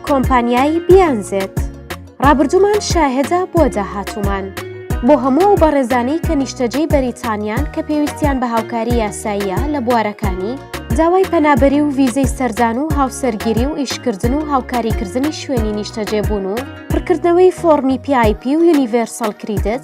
کۆمپانیایی بیانزێت ڕابردوومان شاهێدا بۆ داهاتومان بۆ هەموو و بەڕێزانەی کە نیشتەجێی بەریتانیان کە پێویستیان بە هاوکاری یاساییە لە بوارەکانی داوای پەنابەری و ویزەی سەردان و هاوسەرگیری و ئیشکردن و هاوکاریکردنی شوێنی نیشتەجێبوون و پڕکردنەوەی فۆڕمی پیایپی و یونیڤێرسەڵ کریدت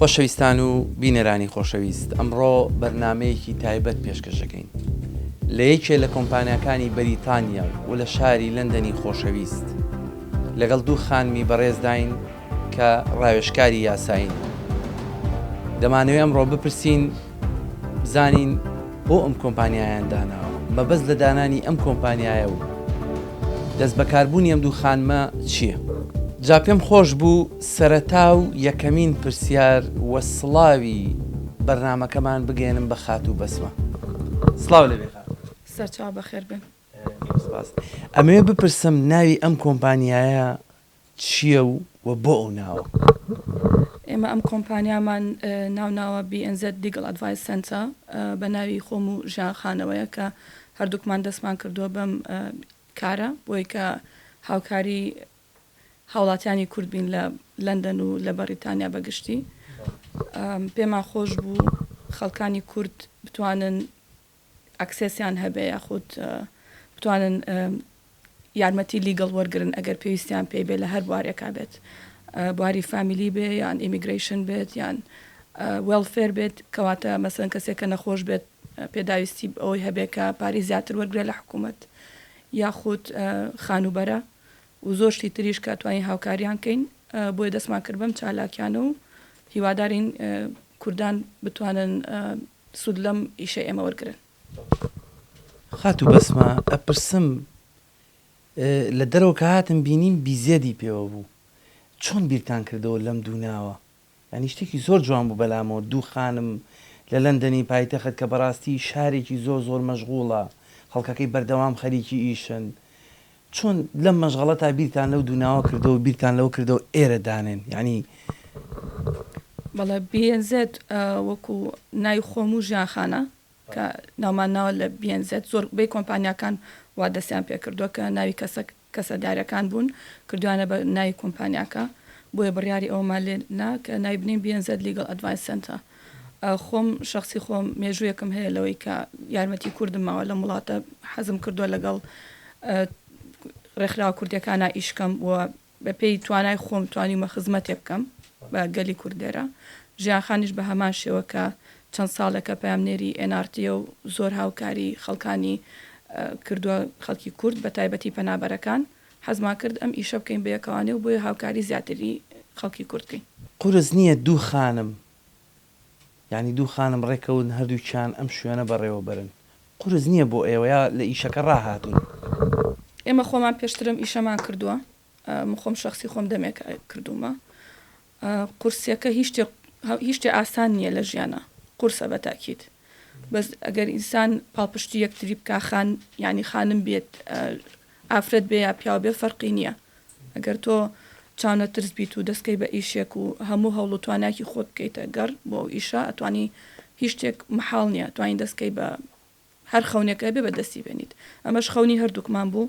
خۆشەویستان و بینەرانی خۆشەویست ئەمڕۆ بەرنامەیەکی تایبەت پێشکەش دەکەین لە یەکێ لە کۆمپانیاکانی بەریتانیا و لە شاری لەندەنی خۆشەویست لەگەڵ دوو خانمی بەڕێزداین کە ڕاوێشکاری یاساین دەمانەوێ ئەمڕۆ بپرسین بزانین بۆ ئەم کۆمپانیایان داناوە مەبەست لە دانانی ئەم کۆمپانیایە و دەست بەکاربوونی ئەم دوو خانمە چییە؟ جا پێم خۆش بوو سەرەتا و یەکەمین پرسیار و سڵاوی بەرنامەکەمان بگەیەنم بە خاتوو بەسمە. سڵاو لێبێ خاتوو. سەرچاو بەخێر بێن. زۆر سپاس. ئەمەوێ بپرسم ناوی ئەم کۆمپانیایە چییە و وە بۆ ئەو ناوە؟ ئێمە ئەم کۆمپانیامان ناو ناوە BNZ Legal Advice Centre بە ناوی خۆم و ژیان خانەوەیە کە هەردووکمان دەستمان کردووە بەم کارە بۆیە کە هاوکاری هاوڵاتیانی کورد بین لە لەندەن و لە بەڕیتانیا بە گشتی پێمان خۆش بوو خەڵکانی کورد بتوانن ئەکسسیان هەبێ یاخود بتوانن یارمەتی لیگەڵ وەرگن ئەگەر پێویستیان پێ بێ لە هەر بوارێکا بێت بواری فامیلی بێ یان ئیمیگریشن بێت یان وێڵفێر بێت کەواتە مەسن کەسێک کە نەخۆش بێت پێداویستی ئەوەی هەبێ کە پارەی زیاتر وەرگێ لە حکوومەت یاخود خانوبەرە و زۆر شتی تریش کە توانین هاوکاریان کەین بۆیە دەستمان کرد بەم چالاکیانە و هیوادارین کوردان بتوانن سوود لەم ئیشە ئێمە وەرگرن. خاتوو بەسمە ئەپرسم لە دەرەوە کە هاتم بینیم بیزێدی پێوە بوو چۆن بیرتان کردەوە لەم دوو ناوە؟ یانی شتێکی زۆر جوان بوو بەلامۆ دوو خانم لە لەندەنی پایتەخت کە بەراستی شارێکی زۆر زۆر مەشغوڵە خەڵکەکەی بەردەوام خەریکی ئیشن چۆن لەم مەشغەڵەتا بیرتان لەو دوو ناوە کردەوەو بیرتان لەوە کردەوە ئێرە دانێن یانی بەڵێ بیێن زێد وەکو ناوی خۆم و ژیان خانە کە ناومان ناوە لە بیێن زێد زۆر بەی کۆمپانیاکان وا دەسیان پێکردوە کە ناوی کەسەک. کەسە دارەکان بوون کردویانە بە ناوی کۆمپانیاکە بۆیە بڕیاری ئەوەمان لێ نا کە ناوی بنێین BNZ Legal Advice Center خۆم شەخسی خۆم مێژوویەکم هەیە لەوەی کە یارمەتی کوردم ماوە لەم وڵاتە حەزم کردوە لەگەڵ ڕێکخراوە کوردیەکانا ئیش کەم و بە پێی توانای خۆم توانیومە خزمەتێک بکەم بە گەلی کورد لێرە ژیان خانیش بە هەمان شێوە کە چەند ساڵێکە پەیامنێری ئێن ئاڕ تییە و زۆر هاوکاری خەڵکانی کردووە، خەڵکی کورد بە تایبەتی پەنابەرەکان، حەزمان کرد ئەم ئیشە بکەین بە یەکەوانێ و بۆیە هاوکاری زیاتری خەڵکی کورد بکەین. قورس نییە دوو خانم، یانی دوو خانم ڕێککەون هەردووکیان ئەم شوێنە بەڕێوە بەرن، قورس نییە بۆ ئێوە یا لە ئیشەکە ڕاهاتوون؟ ئێمە خۆمان پێشترم ئیشەمان کردووە. من خۆم شەخسی خۆم دەمێکە کردومە قورسیەکە هیچ شتێ هیچ شتێ ئاسان نییە لە ژیانا قورسە بە تاکید بەس ئەگەر ئینسان پاڵپشتی یەکتری بکا خان یعنی خانم بێت ئافرەت بێ یا پیاو بێ فەرقی نییە ئەگەر تۆ چاونە ترس بیت و دەستکەی بە ئیشێک و هەموو هەوڵ و تواناکی خۆت بکەیتە گەڕ بۆ ئەو ئیشە ئەتوانی هیچ شتێک محاڵ نییە توانین دەستکەی بە هەر خەونێک هەبێ بە دەستی بێنیت. ئەمەش خەونی هەردووکمان بوو.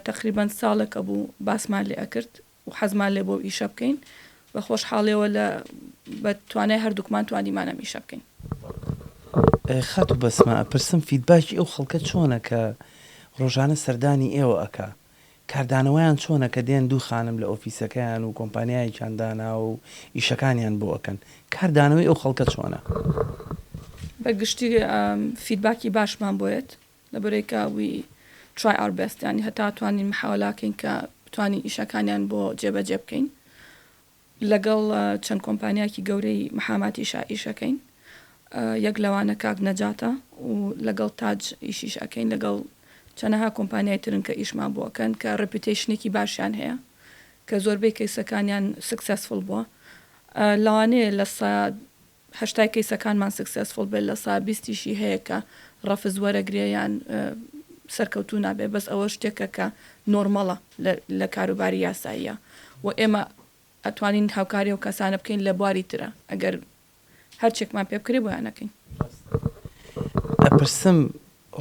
تەقریبەن ساڵێکە بوو باسمان لێ ئەکرد و حەزمان لێ بوو ئەو ئیشە بکەین. بە خۆشحاڵیەوە لە بە توانای هەردووکمان توانیمان ئەم ئیشە بکەین. خاتوو بەسمە ئەپرسم فیدباکی ئەو خەڵکە چۆنە کە ڕۆژانە سەردانی ئێوە ئەکا؟ کاردانەوەیان چۆنە کە دێن دوو خانم لە ئۆفیسەکەیان و کۆمپانیایەکیان داناوە و ئیشەکانیان بۆ ئەکەن کار دانەوەی ئەو خەڵکە چۆنە؟ بە گشتی فیدباکی باشمان بۆ یەت لە بەرەی کە وی ترای ئاور بێست یانی هەتا توانین محاوەلاکەین کە بتوانین ئیشەکانیان بۆ جێبەجێ بکەین. لەگەڵ چەند کۆمپانیاکی گەورەی محاماتیش ئیش ئەکەین یەک لەوانە کاک نەجاتە و لەگەڵ تاج ئیشیش ئەکەین لەگەڵ چەنەها کۆمپانیای ترن کە ئیشمان بۆ ئەکەن کە ڕێپیوتەیشنێکی باشیان هەیە کە زۆربەی کەیسەکانیان سکسێسفوڵ بووە لەوانەیە لە سە هەشتای کەیسەکانمان سکسێسفوڵ بێت لە سا بیستیشی هەیە کە ڕەفز وەرەگرێ یان سەرکەوتوو نابێ بەس ئەوە شتێکە کە نۆرمەڵە لە کاروباری یاساییا و ئێمە ئەتوانین هاوکاری ئەو کەسانە بکەین لە بواری ترا ئەگەر هەرچێکمان پێ بکرێ بۆیان ئەکەین. ئەپرسم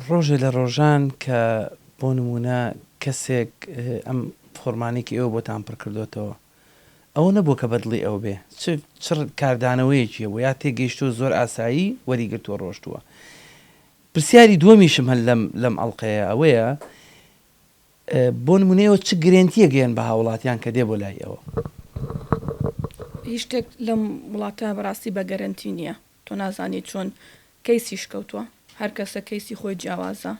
ڕۆژێ لە ڕۆژان کە بۆ نموونە کەسێک ئەم فۆڕمانەی کە ئێوە بۆتان پڕکردۆتەوە ئەوە نەبووە کە بەدڵی ئەو بێ، چ چ کاردانەوەیەکی هەبووە، یا تێگەیشتووە زۆر ئاسایی وەریگرتووە ڕۆشتووە. پرسیاری دووەمیشم هەر لەم لەم ئەڵقەیە ئەوەیە، بۆ نموونە ئێوە چ گرێنتییەک دێن بە هاووڵاتیان کە دێ بۆ لای ئێوە؟ هیچ شتێک لەم وڵاتە بەڕاستی بە گەرەنتی نییە، تۆ نازانی چۆن کەیسیش کەوتووە، هەر کەسە کەیسی خۆی جیاوازە.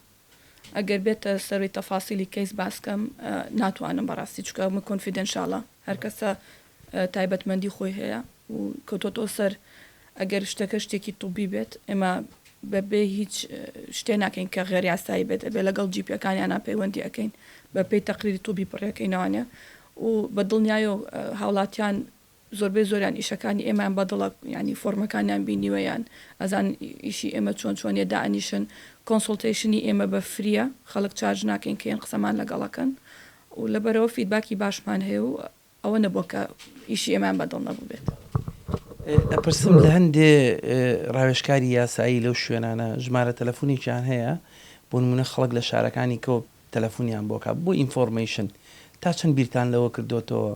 ئەگەر بێتە سەروی تەفاسیلی کەیس باس کەم ناتوانم بەڕاستی چکە ئەمە کۆنفیدێنشاڵە هەرکەسە تایبەتمەندی خۆی هەیە و کەوتۆتەوە سەر ئەگەر شتەکە شتێکی طوبی بێت ئێمە بەبێ هیچ شتێ ناکەین کە غێر یاسایی بێت ئەبێ لەگەڵ جیپیەکانیانە پەیوەندی ئەەکەین بەپێی تەقریری طوبی پڕیەکەینەوانە و بە دڵنیایەوە هاوڵاتیان زۆربەی زۆریان ئیشەکانی ئێمەیان بەدڵە یانی فۆرمەکانیان بینیوە یان ئەزان ئیشی ئێمە چۆن چۆنیە دائەنیشن کۆنسوڵتەیشنی ئێمە بە فریە خەڵک چارج ناکەین کێن قسەمان لەگەڵەکەن و لەبەرەوە فیدباکی باشمان هەیە و ئەوە نەبووە کە ئیشی ئێمەیان بەدڵ نەبووبێت. ئەپرسم لە هەندێ ڕاوێژکاری یاسایی لەو شوێنانە ژمارە تەلەفونێکیان هەیە بۆ نمونە خەڵک لە شارەکانی کەوە تەلەفونیان بۆکە بۆ ئینفۆرمەیشن تا چەند بیرتان لەوە کردوتەوە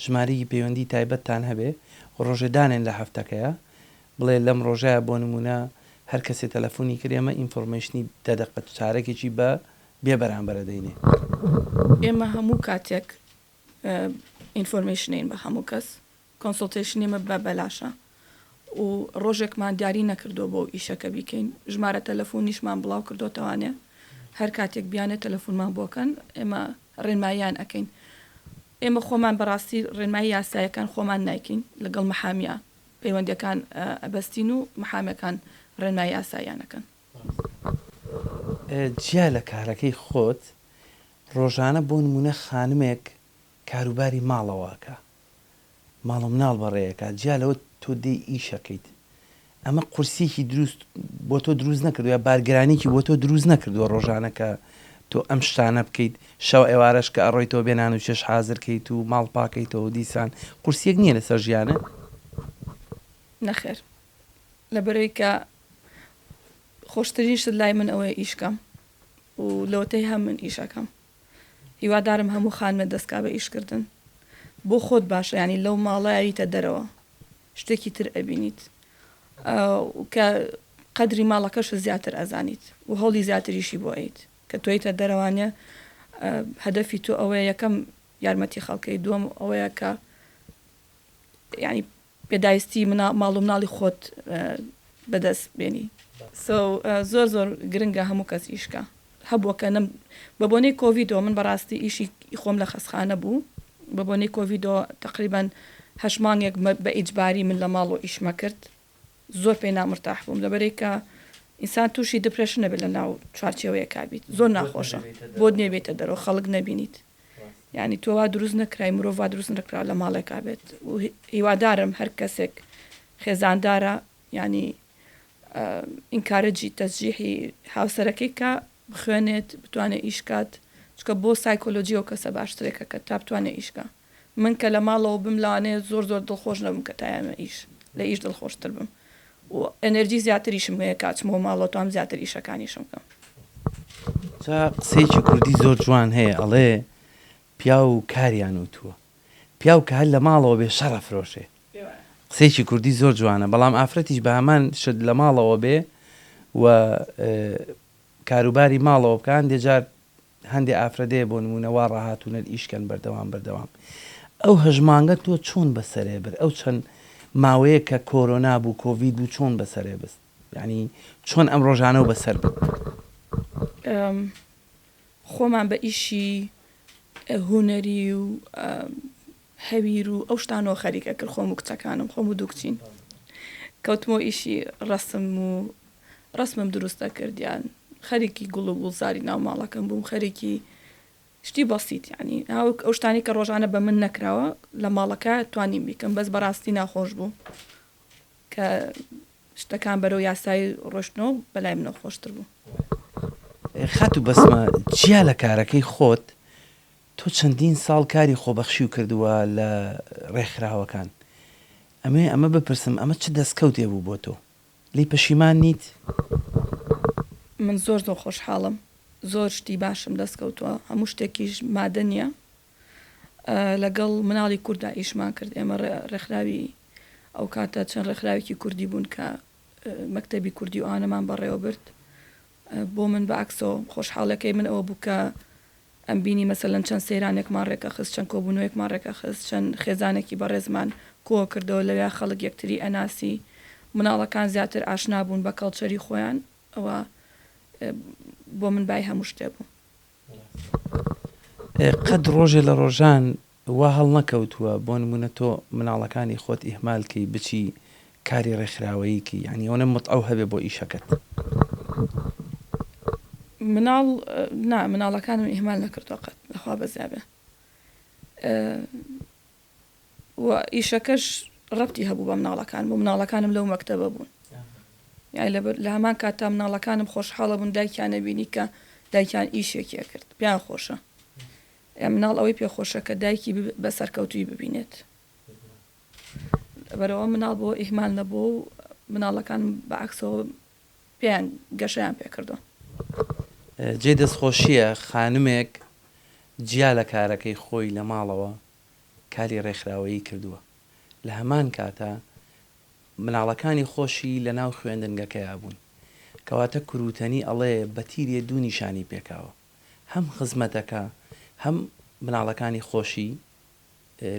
ژمارەیەکی پەیوەندی تایبەتتان هەبێ و ڕۆژێ دانێن لە هەفتەکەیا بڵێ لەم ڕۆژەیا بۆ نموونە هەر کەسێ تەلەفونی کرد ئێمە ئینفۆرمەیشنی دە دەقە چارەکێکی بە بێ بەرامبەر ئەدەینێ. ئێمە هەموو کاتێک ئینفۆرمەیشن ئەین بە هەموو کەس، کۆنسۆڵتەیشن ئێمە بە بەلاشە. و ڕۆژێکمان دیاری نەکردووە بۆ ئەو ئیشەکە بیکەین ژمارە تەلەفۆنیشمان بڵاو کردوتەوانێ هەر کاتێک بیانێت تەلەفۆنمان بۆکەن ئێمە ڕێنمایان ئەەکەین ئێمە خۆمان بەڕاستی ڕێنمای یاسایەکان خۆمان نایکەین لەگەڵ محامیا پەیوەندەکان ئەبەستین و محامەکان ڕێنمای یاسایانەکەن جیا لە کارەکەی خۆت ڕۆژانە بۆ نمونە خانمێک کاروباری ماڵەوە ئەکا ماڵ و مناڵ بەڕێ ئەکا جیا لەوە تۆ دێی ئیش ئەکەیت ئەمە قورسیەکی دروست بۆ تۆ دروست نەکردوە یا بارگرانیکی بۆ تۆ دروست نەکردوە ڕۆژانە کە تۆ ئەم شتانە بکەیت شەو ئێوارەش کە ئەڕۆیتەوە بێ نان و چێژ حازر کەیت و ماڵ پاکەیتەوە و دیسان قورسیەک نیە لەسەر ژیانت؟ نەخێر لەبەرەوەی کە خۆشترین شت لای من ئەوەیە ئیش کەم و لەوەتەی هەم من ئیش ئەکەم. هیوادارم هەموو خانمێ دەسکا بە ئیش کردن بۆ خۆت باشە یانی لەو ماڵە ئەویتە دەرەوە شتێکی تر ئەبینیت و کە قەدری ماڵەکەش زیاتر ئەزانیت و هەوڵی زیاتریشی بۆ ئەیت کە تۆیتە دەرەوانە هەدەفی تۆ ئەوەیە یەکەم یارمەتی خەڵکەی دووەم ئەوەیە کە یانی پێداویستی ماڵ و مناڵی خۆت بەدەست بێنی. سۆ زۆر زۆر گرنگە هەموو کەس ئیشکە هەبووە کە نەم بە بۆنەی کۆڤیدۆ من بەڕاستی ئیشی خۆم لە خەسخانە بوو بە بۆنەی کۆڤیدۆ تەقریبەن هەشت مانگێک بە ئیجباری من لە ماڵۆ ئیشمە کرد زۆر پێی نامرتاح بووم لەبەرەی کە ئینسان تووشی دپرێشن نەبێت لە ناو چوارچێوەیەکا بیت زۆر ناخۆشە بۆت نێبێتە دەرەوە خەڵک نەبینیت. یانی تۆ وا دروست نەکرای مرۆڤ وا دروست نەکرا لە ماڵێکا بێت و هیوادارم هەر کەسێک خێزاندارە ینی ئینکارەجی تەزجیحی هاوسەرەکەی کا بخوێنێت بتوانێت ئیشکات چکە بۆ سایکۆلۆجی و کەسە باشترێکە کە تا بتوانێت ئیشکە من کە لە ماڵەوە بم لەوانەیە زۆر زۆر دڵخۆش نەبم کە تایەمە ئیش لە ئیش دڵخۆشتر بم و ئەنەرجی زیاتریشم هەیە کاچمەوە ماڵەوە توانم زیاتر ئیشەکانیشم بکەم. جا قسەیەکی کوردی زۆر جوان هەیە ئەڵێ پیاو کاریان وتووە پیاو کە هەر لە ماڵەوە بێ شەڕ ئەفرۆشێ قسەیەکی کوردی زۆر جوانە بەڵام ئافرەتیش بە هەمان شت لە ماڵەوە بێ و کاروباری ماڵەوە بکە هەندێ جار هەندێ ئافرەتێ بۆ نموونە وا ڕاهاتوونەر ئیش کەن بەردەوام بەردەوام ئەو هەژمانگە تۆ چۆن بەسەرێ برد ئەو چەند ماوەیەک کە کۆرۆنا بوو کۆڤید بوو چۆن بەسەرێ بست یانی چۆن ئەم ڕۆژانەو بەسەر برد. خۆمان بە ئیشی هونەری و هەویر و ئەو شتانەوە خەریک ئەکرد خۆم و کچەکانم خۆم و دوو کچین کەوتمەوە ئیشی ڕەسم و ڕەسمم دروست ئەکرد یان خەریکی گوڵ و گوڵزاری ناو ماڵەکەم بووم خەریکی شتی بەسیت یانی هاوک ئەو شتانی کە ڕۆژانە بە من نەکراوە لە ماڵەکە توانیم بیکەم بەس بەڕاستی ناخۆش بوو کە شتەکان بەرەو یاسایی ڕۆشتنەوە بەلای منەوە خۆشتر بوو. خاتوو بەسمە جیا لە کارەکەی خۆت تۆ چەندین ساڵ کاری خۆبەخشیو کردووە لە ڕێکخراوەکان، ئەمەوێ ئەمە بپرسم ئەمە چ دەستکەوتێ بوو بۆ تۆ؟ لێی پەشیمان نیت؟ من زۆر زۆر خۆشحاڵم زۆر شتی باشم دەست کەوتوە هەموو شتێکیش مادە نیە لەگەڵ مناڵی کورددا ئیشمان کرد ئێمە ڕێکخراوی ئەوکاتە چەند ڕێکخراوێکی کوردی بوون کە مەکتەبی کوردی و ئەوانەمان بەڕێوە برد بۆ من بەعەکسەوە خۆشحاڵیەکەی من ئەوە بوو کە ئەمبینی مەسەلەن چەند سەیرانێکمان ڕێکەخست، چەند کۆبوونەوەیەکمان ڕێکەخست، چەند خێزانێکی بەڕێزمان کۆکردەوە، لەوێ خەڵک یەکتری ئەناسی، مناڵەکان زیاتر ئاشنابوون بە کەڵچەری خۆیان، ئەوە بۆ من بای هەموو شتێ بوو. قەت ڕۆژێ لە ڕۆژان وا هەڵنەکەوتووە بۆ نموونە تۆ مناڵەکانی خۆت ئیهمال کەی بچی کاری ڕێکخراوەیی کەی یانی ئەونە متعەو هەبێ بۆ ئیشەکەت. مناڵ نا مناڵەکانم ئیهمال نەکردووە قەت لە خوا بەزیابێ و ئیشەکەش ڕەبتی هەبوو بە مناڵەکانم و مناڵەکانم لەو مەکتەبە بوون یانی لەبەر لە هەمان کاتتا مناڵەکانم خۆشحاڵە بوون دایکیان ئەبینی کە دایکیان ئیشێکی ئەکرد پێیان خۆشە ئێ مناڵ ئەوەی پێ خۆشە کە دایکی بە سەرکەوتووی ببینێت لەبەرئەوە مناڵ بۆ ئیهمال نەبووە و مناڵەکان بە عەکسەوە پێیان گەشەیان پێ کردووە. جێی دەستخۆشییە خانمێک جیا لە کارەکەی خۆی لە ماڵەوە کاری ڕێکخراوەیی کردووە لە هەمان کاتا مناڵەکانی خۆشی لە ناو خوێندنگەکەیا بوون کەواتە کرووتەنی ئەڵێ بە تیرێ دوو نیشانی پێکاوە. هەم خزمەتەکە هەم مناڵەکانی خۆشی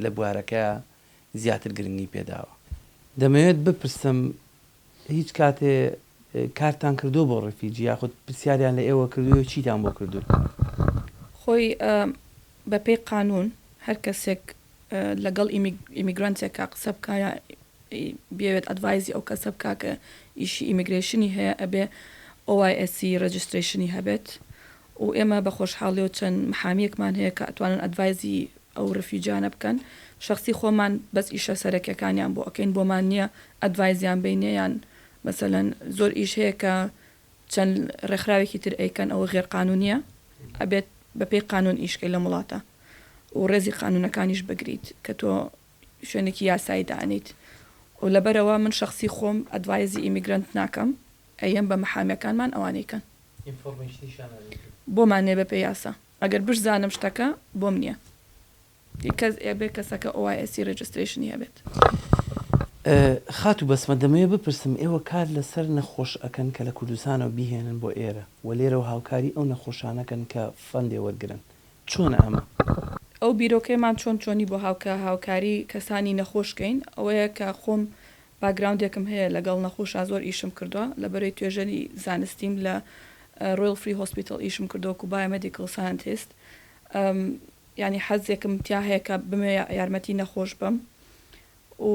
لە بوارەکەیا زیاتر گرنگی پێداوە. دەمەوێت بپرسم هیچ کاتێ کارتان کردووە بۆ ڕیفیجی یاخود پرسیاریان لە ئێوە کردووە و چیتان بۆ کردوون؟ خۆی بەپێی قانوون هەر کەسێک لەگەڵ ئیمیگرانتێکا قسە بکا یا ی بیەوێت ئەدڤایزی ئەو کەسە بکا کە ئیشی ئیمگرەیشنی هەیە ئەبێ OISC ڕێجسترەیشنی هەبێت و ئێمە بە خۆشحاڵیەوە چەند محامیەکمان هەیە کە ئەتوانن ئەدڤایزی ئەو ڕفیوجیانە بکەن شەخسی خۆمان بەس ئیشە سەرەکیەکانیان بۆ ئەکەین بۆمان نیە ئەدڤایزیان بەینێ یان مەسەلەن زۆر ئیش هەیە کە چەند ڕێکخراوێکی تر ئەیکەن ئەوە غێر قانونیە ئەبێت بە پێی قانون ئیش کەی لەم وڵاتە و ڕێزی قانونەکانیش بگریت کە تۆ شوێنێکی یاسایی دانیت و لەبەرئەوە من شەخسی خۆم ئەدڤایزی ئیمیگرەنت ناکەم ئەیەم بە محامێکانمان ئەوانەی کەن بۆمان نیە بەپێ یاسا ئەگەر بشزانم شتەکە بۆم نیە ی کەس ئەبێ کەسەکە OISC ڕیجسترەیشنی هەبێت. خاتو بەسمە دەمەوێ بپرسم ئێوە کار لەسەر نەخۆش ئەکەن کە لە کوردستانەوە بیهێنن بۆ ئێرە و لێرەوە هاوکاری ئەو نەخۆشانەکەن کە فەندێ وەرگرن چۆنە ئەمە؟ ئەو بیرۆکەیەمان چۆن چۆنی بۆ هاوکە هاوکاری کەسانی نەخۆش کەین ئەوەیە کە خۆم باکگراوندێکم هەیە لەگەڵ نەخوشا زۆر ئیشم کردوە لەبەرەی توێژەری زانستیم لە Royal Free Hospital ئیشم کردوە وەکو Biomedical Scientist یانی حەزێکم تیا هەیە کە بمەوێ یارمەتی نەخۆش بەم و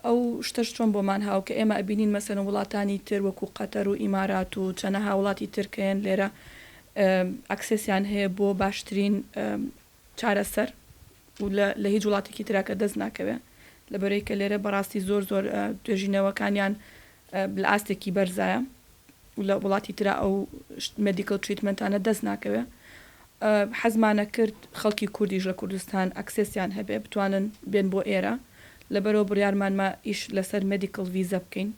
ئەو شتەش چۆن بۆمان هاو کە ئێمە ئەبینین مەسەلەن وڵاتانی تر وەکو قەتەر و ئیمارات و چەنەها وڵاتی تر کە یەن لێرە ئەکسێسیان هەیە بۆ باشترین چارەسەر و لە لە هیچ وڵاتێکی تراکە دەست ناکەوێ لەبەرەی کە لێرە بەڕاستی زۆر زۆر توێژینەوەکانیان لە ئاستێکی بەرزایە و لە وڵاتی ترا ئەو مێدیکەڵ تریتمێنتانە دەست ناکەوێ حەزمان ئەکرد خەڵکی کوردیش لە کوردستان ئەکسێسیان هەبێ بتوانن بێن بۆ ئێرە لەبەرئەوە بڕیارمان ما ئیش لەسەر مێدیکەڵ ڤیزە بکەین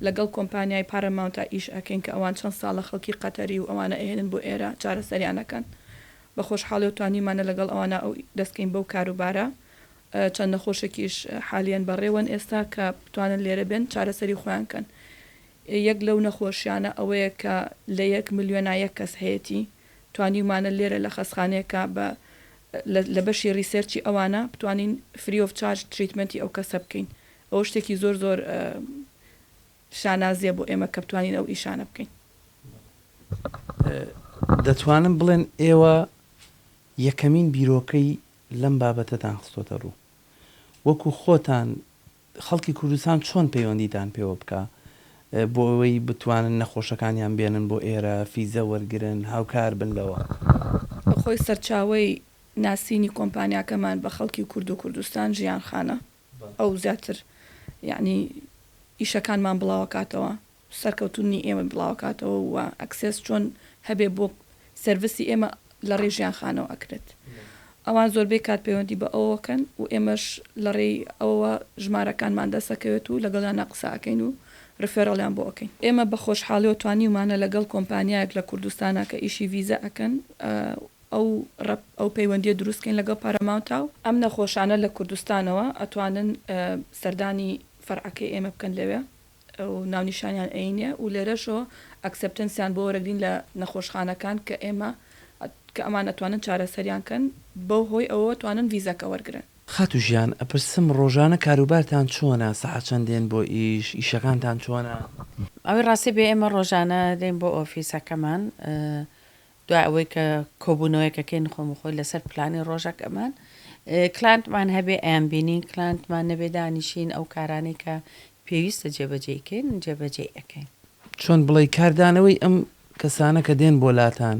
لەگەڵ کۆمپانیای پاراماونتا ئیش ئەکەین کە ئەوان چەند ساڵە خەڵکی قەتەری و ئەوانە ئەهێنن بۆ ئێرە چارەسەریان ئەکەن بە خۆشحاڵیەوە توانیمانە لەگەڵ ئەوانە ئەو دەست کەین بەو کاروبارە چەند نەخۆشێکیش حالیەن بەڕێوەن ئێستا کە بتوانن لێرە بێن چارەسەری خۆیان کەن یەک لەو نەخۆشیانە ئەوەیە کە لە یەک ملیۆنا یەک کەس هەیەتی، توانیومانە لێرە لە خەستخانەیەکە بە لە بەشی ریسێرچی ئەوانە بتوانین فری ئۆف چارج تریتمەنتی ئەو کەسە بکەین ئەوە شتێکی زۆر زۆر شانازیە بۆ ئێمە کە بتوانین ئەو ئیشانە بکەین. دەتوانن بڵێن ئێوە یەکەمین بیرۆکەی لەم بابەتەتان خستۆتە ڕوو وەکو خۆتان خەڵکی کوردستان چۆن پەیوەندیتان پێوە بکا بۆ ئەوەی بتوانن نەخۆشەکانیان بێنن بۆ ئێرە فیزە وەرگرن هاوکار بن لەوە؟ خۆی سەرچاوەی ناسینی کۆمپانیاکەمان بە خەڵکی کورد و کوردستان ژیان خانە ئەو زیاتر یەعنی ئیشەکانمان بڵاوەکاتەوە. سەرکەوتنی ئێمە بڵاوکاتەوە و ئەکسێس چۆن هەبێ بۆ سەرڤسی ئێمە لەڕێی ژیانخانەوە ئەکرێت ئەوان زۆربەی کات پەیوەندی بە ئەوەکەن و ئێمەش لەڕێی ئەوەوە ژمارەکانمان دەست ئەکەوێت و لەگەڵیانا قسە ئەکەین و ڕفێڕڵیان بۆ ئەکەین. ئێمە بە خۆشحاڵیەوە توانیومانە لەگەڵ کۆمپانیایەک لە کوردستانا کە ئیشی ڤیزە ئەکەن ئەو ئەو پەیوەندیە دروست کەین لەگەڵ پاراماونتا و. ئەم نەخۆشانە لە کوردستانەوە ئەتوانن سەردانی فەرعەکەی ئێمە بکەن لەوێ. و ناونیشانیان ئەینێ و لێرەشەوە ئەکسپتنسیان بۆ وەرەگرین لە نەخۆشخانەکان کە ئێمە کە ئەمان ئەتوانن چارەسەریان کەن بەو هۆی ئەوەوە توانن ڤیزەکە وەرگرن. خاتو ژیان ئەپرسم ڕۆژانە کاروبارتان چۆنە سەعات چەند دێن بۆ ئیش ئیشەکانتان چۆنە؟ ئەوەی ڕاستی بێ ئێمە ڕۆژانە دێین بۆ ئۆفیسەکەمان دوای ئەوەی کە کۆبوونەوەیەکەکەی نخۆم خۆی لەسەر پلانی ڕۆژەکەمان کلانتمان هەبێ ئەیان بینین کلانتمان نەبێ دانیشین ئەو کارانەی کە پێویستە جێبەجێیکەین جێبەجێی ئەکەین. چۆن بڵێی کاردانەوەی ئەم کەسانە کە دێن بۆ لاتان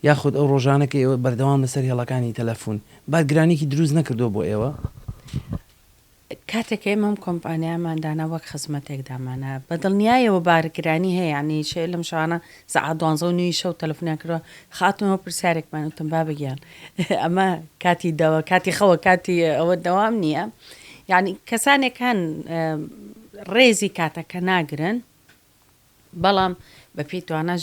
یاخود ئەو ڕۆژانە کە ئێوە بەردەوام لەسەر هێڵەکانی تەلەفوون بارگرانیەکی دروست نەکردووە بۆ ئێوە؟ کاتێک ئێمە ئەم کۆمپانیایەمان دانا وەک خزمەتێک دامانە بە دڵنیایەوە بارگرانی هەیە یانی شەوێ لەم شەوانە سەعات دوانزە و نیوی شەو تەلەفۆنیان کردووە خاتونەوە پرسیارێکمان وتم بابە گیان ئەمە کاتی دەوە کاتی خەوە کاتی ئەوە دەوام نییە یعنی کەسانێک هەن ڕێزی کاتەکە ناگرن بەڵام بە پێی توانە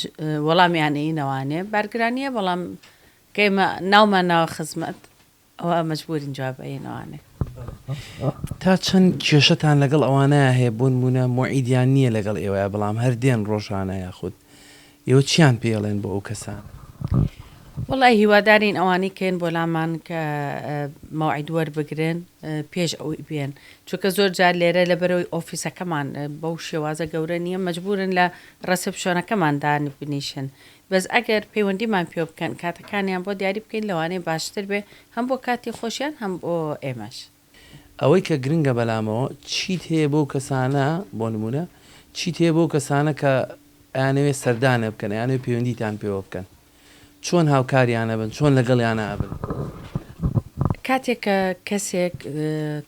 وەڵامیانەی نەوانێ بارگرانیە بەڵام کەمە ناومان ناوە خزمەت ئەوا مەجبورن جواب بەین ئەوانەی. تا چەند کێشەتان لەگەڵ ئەوانەیا هەیە بۆنمونە موعیدیان نیە لەگەڵ ئێوەیا بەڵام هەر دێن ڕۆژانە یاخود ئێوە چیان پێڵێن بۆ ئەو کەسانە؟ وەڵای هیوادارین ئەوانەی کەێن بۆ لامان کە مەوعید وەربگرن پێش ئەوی بێن چونکە زۆر جار لێرە لە بەرەوەی ئۆفیسەکەمان بەو شێوازە گەورە نییە مەجبورن لە ڕەسپشۆنەکەمان دان بنیشن بەس ئەگەر پەیوەندیمان پێوە بکەن کاتەکانیان بۆ دیاری بکەین لەوانەیە باشتر بێ هەم بۆ کاتی خۆشیان هەم بۆ ئێمەش. ئەوەی کە گرنگە بەلامەوە چیت هەیە بەو کەسانە بۆ نمونە چیت هەیە بەو کەسانە کە ئەیانەوێ سەردانە بکەن ئەیانەوێ پەیوەندیتان پێوە بکەن چۆن هاوکاریان ئەبن چۆن لەگەڵیانا ئەبن. کاتێک کە کەسێک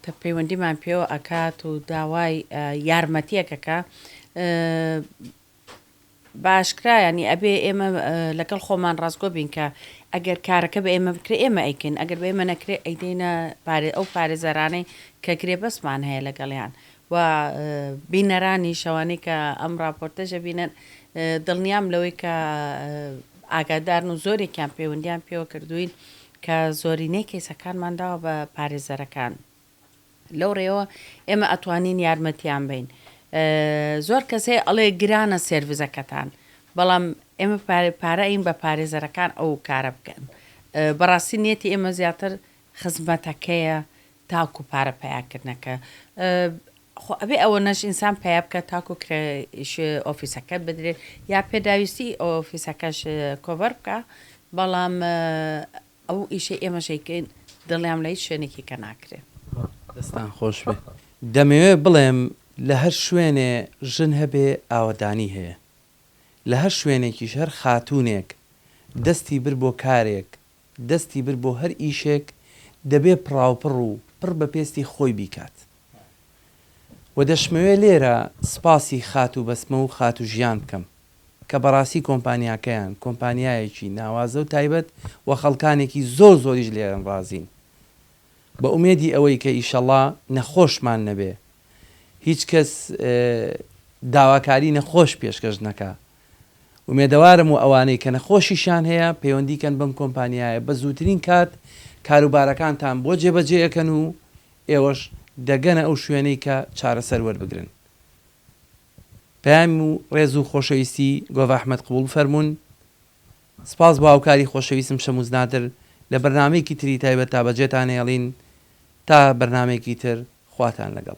تە پەیوەندیمان پێوە ئەکات و داوای یارمەتیەک ئەکا بەئاشکرا یانی ئەبێ ئێمە لەگەڵ خۆمان ڕاستگۆ بین کە ئەگەر کارەکە بە ئێمە بکرێ ئێمە ئەیکەین ئەگەر بە ئێمە نەکرێ ئەیدەینە پارێ ئەو پارێزەرانەی کە گرێ بەسمان هەیە لەگەڵیان و بینەرانی شەوانەی کە ئەم ڕاپۆرتەژە بینن دڵنیام لەوەی کە ئاگادارن و زۆرێکیان پەیوەندیان پێوە کردوین کە زۆرینەی کەیسەکانمان داوە بە پارێزەرەکان لەو ڕێوە ئێمە ئەتوانین یارمەتیان بەین زۆر کەس هەیە ئەڵێ گرانە سێرڤزەکەتان بەڵام ئێمە پارەین بە پارێزەرەکان ئەو کارە بکەن بەڕاستی نێتی ئێمە زیاتر خزمەتەکەیە تاکو پارە پیاکردنەکە خۆ ئەبێ ئەوە نەش ئینسان پیا بکە تاکو ئۆفیسەکە بدرێت یا پێداویستی ئۆفیسەکەش کۆڤەر بکە بەڵام ئەو ئیشەی ئێمەش ئەیکەین دڵنیام لە هیچ شوێنێکی کە ناکرێ. دەستان خۆش بێ دەمەوێ بڵێم لە هەر شوێنێ ژن هەبێ ئاوەدانی هەیە لە هەر شوێنێکیش هەر خاتوونێک دەستی برد بۆ کارێک دەستی برد بۆ هەر ئیشێک دەبێ پڕاوپڕ و پڕ بە پێستی خۆی بیکات و دەشمەوێ لێرە سپاسی خاتوو بەسمە و خاتوو ژیان بکەم کە بەڕاستی کۆمپانیاکەیان کۆمپانیایەکی ناوازە و تایبەت وە خەڵکانێکی زۆر زۆریش لێرەن ڕازین بە ئومێدی ئەوەی کە ئیشەڵا نەخۆشمان نەبێ هیچ کەس داواکاری نەخۆش پێشکەش نەکا ئومێدەوارم و ئەوانەی کە نەخۆشیشان هەیە پەیوەندی کەن بەم کۆمپانیایە بە زووترین کات کاروبارەکانتان بۆ جێبەجێ ئەکەن و ئێوەش دەگەنە ئەو شوێنەی کە چارەسەر وەربگرن. پەیام و ڕێز و خۆشەویستی گۆڤە ئەحمەد قبوڵ بفەرموون. سپاس بۆ هاوکاری خۆشەویستم شەمووز نادر لە بەرنامەیەکی تری تایبەت تا بەجێتان هێڵین تا بەرنامەیەکی تر خواتان لەگەڵ.